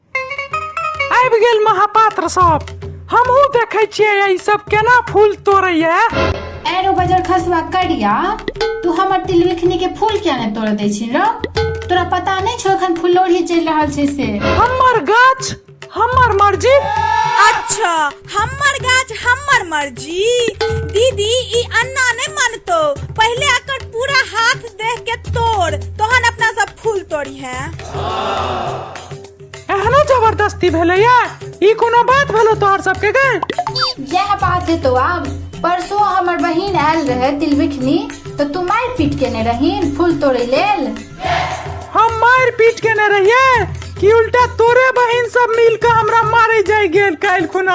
आबि गेल महापात्र सब हमहूँ देखै छियै ई सब केना फूल तोड़ैया एरो बजर खसवा करिया तू हमर तिलविखनी के फूल किया ने तोड़ दै छी रौ तोरा पता नहीं छो एखन फुलौरी चलि रहल छै से हमर गाछ हमर मर्जी अच्छा हम्मर गाछ हम्मर मर्जी दीदी ई अन्ना ने मानतो पहले अकर पूरा हाथ देख के तोड़ तोहन अपना सब फूल तोड़ी है एहनो जबरदस्ती भेलै या ई कोनो बात भेलो तोहर सबके गे यह बात है तो आम परसों हमर बहिन आयल रहे तिलबिखनी तो तू मार पीट केने रहीन फूल तोड़े लेल हम मार पीट केने रहिए कि उल्टा तोरे बहन सब मिल के हमरा मारे जाय गेल काल खुना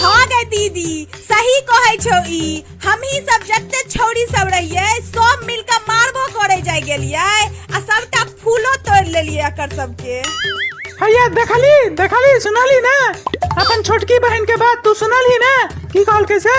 हाँ गे दीदी सही कहै छौ ई हमही सब जते छौरी सब रहिए सब मिल के मारबो करे जाय गेलिए आ सबटा फूलो तोड़ लेलिए एकर सबके हैया देखली देखली सुनली ना अपन छोटकी बहन के बात तू सुनली ना की कहल कैसे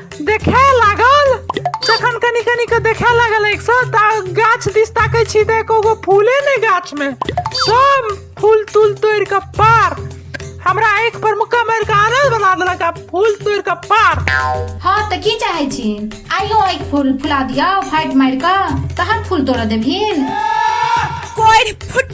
देखे लागल जखन कनी कनी के देखे लागल एक सौ ता गाछ दिस ताकै छी तऽ एको गो फूले नहि गाछ में सब फूल तूल तोड़ के पार हमरा आँखि पर मुक्का मारि के आनल बना देलक आ फूल तोड़ के पार हाँ तऽ की चाहे छी आइयो आँखि फूल फुला दिया फाटि मारि कऽ तहन फूल तोड़ऽ देबहिन कोरि फुट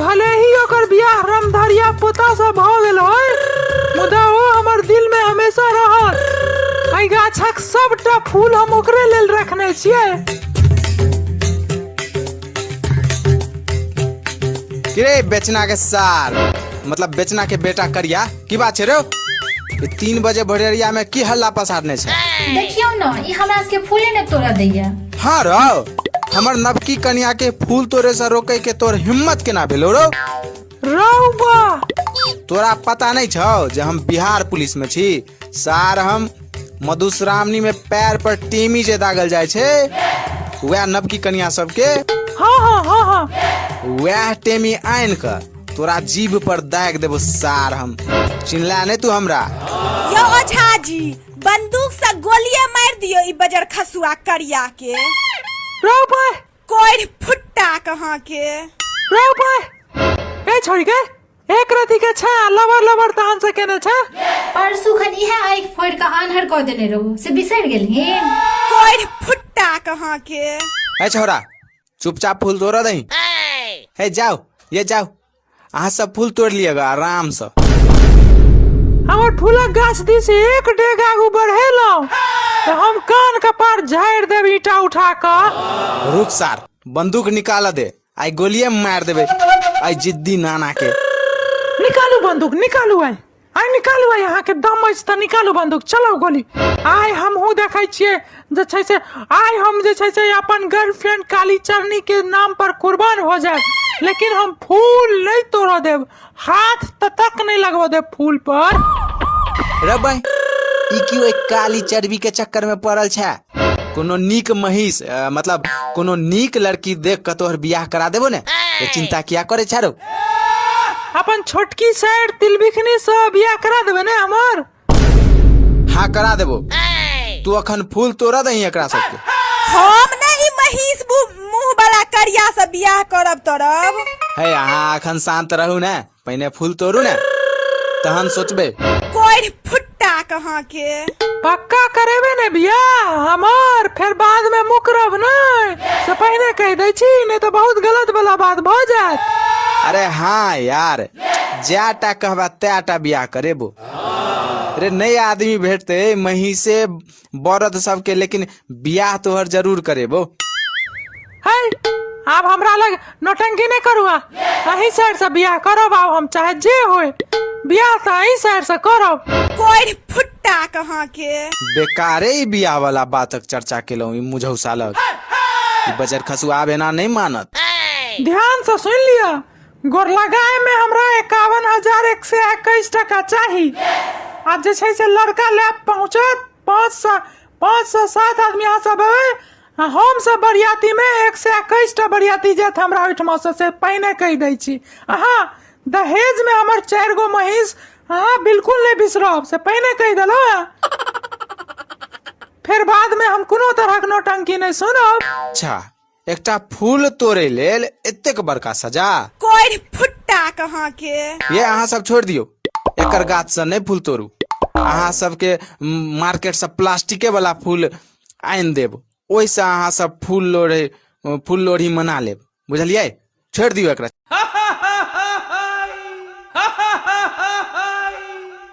भले ही ओकर बियाह रामधरिया पोता से भ गेल होय मुदा ओ हमर दिल में हमेशा रहत एहि गाछक सबटा फूल हम ओकरे लेल रखने छियै किरे बेचना के सार मतलब बेचना के बेटा करिया की बात छै रे ई तीन बजे भोरेरिया में की हल्ला पसारने छै देखियौ ने ई हमरा सबके फूले ने तोड़ा दैया हाँ रौ हमर नवकी कन्या के फूल तोड़े से रोके के तोर हिम्मत केना भेलो रौ रौबा तोरा पता नहीं छौ जे हम बिहार पुलिस में छी सार हम मधुश्रावणी में पैर पर टीमी जे दागल जाय छै वह नवकी कन्या सबके हाँ हाँ हाँ हाँ वह टेमी आनि कऽ तोरा जीभ पर दाग देबो सार हम चिन्हला नहीं तू हमरा यो ओझा जी बंदूक से गोलिये मार दियो ई बजर खसुआ करिया के राव भाई कोढ़ फुट्टा कहाँ के राव भाई ए छोड़ी के एक रति के छा लबर लबर तान से केने छा परसू खन इहे आइक फोड़ के आन्हर कऽ देने रहू से बिसरि गेलही कोढ़ फुट्टा कहाँ के ए छोरा चुपचाप फूल तोड़ दही हे जाओ ये जाओ अहाँ सब फूल तोड़ लिएगा आराम से हमर फूलक गाछ दिस एक डेग आगू बढ़ेलहुँ तऽ हम कान कपार झाड़ि देब ईटा उठा कऽ रुक सार बंदूक निकाल दे आई गोलिये मार देबे आई जिद्दी नाना के निकालू बंदूक निकालू आइ आइ निकालू आइ अहाँके दम अछि तऽ निकालू बन्दूक चलाउ गोली आइ हमहूँ देखै छियै जे छै से आइ हम जे छै से अपन गर्लफ्रेंड काली चरनी के नाम पर कुर्बान हो जाए लेकिन हम फूल नहीं तोड़ देव हाथ तक नहीं लगवा देव फूल पर रबै ई क्यों एक काली चर्बी के चक्कर में पड़ल छै कोनो नीक महीस अ, मतलब कोनो नीक लड़की देख कऽ तोहर बियाह करा देबो ने तो चिंता किया करे छारो अपन छोटकी साइड तिलबिखनी से बियाह करा देबे ने हमर हाँ करा देबो तू अखन फूल तोड़ा दही एकरा सबके हम ने ई महीस मुंह वाला करिया से बियाह करब तरब है अहाँ अखन शांत रहू ने पहिने फूल तोड़ू ने तहन सोचबै कोढ़ फुट्टा कहाँ के पक्का करेबे ने बियाह हमर फेर बाद में मुकरब नहीं से पहिने कह दै छी नहीं तो बहुत गलत वाला बात भ जात अरे हाँ यार जैटा कहबा तैटा बियाह करेबो रे नया आदमी भेटते महीसे बरद सबके लेकिन बियाह तोहर जरूर करेबो है आब हमरा लग नौटंकी नहि करू आ अही साइड से बियाह करब आब हम चाहे जे होय बियाह तऽ अही साइड से करब कोरि फुट्टा कहाँ के बेकारे ई बियाह वाला बातक चर्चा केलहुँ ई मुझौसा लग ई बजर खसुआब एना नहि मानत ध्यान से सुनि लिअ गोरलगाय में हमरा एकावन हजार एक सौ इक्कीस टका चाही आ जे छै से लड़का ले पहुँचत पाँच सौ पाँच सौ सात आदमी अहाँ सब हेबै आ हम सब बरियाती में एक सौ इक्कीस टा बरियाती जायत हमरा ओहिठमा से से पहिने कहि दै छी अहाँ दहेज में हमर चारि गो महींस अहाँ बिल्कुल नहि बिसरब से पहिने कहि देलहुँ हेँ। फेर बाद में हम कोनो तरहक नौटंकी नहि सुनब अच्छा एकटा फूल तोड़े लेल एतेक बड़का सजा कोढ़ फुट्टा कहाँ के ये अहाँ सब छोड़ दियो एकर गाछ से नहीं फूल तोड़ू अहाँ सबके मार्केट से प्लास्टिके वाला फूल आनि देब ओहिसँ अहाँ सब फूल लोढ़े फूल लोढ़ी मना लेब बुझलियै छोड़ दियो एकरा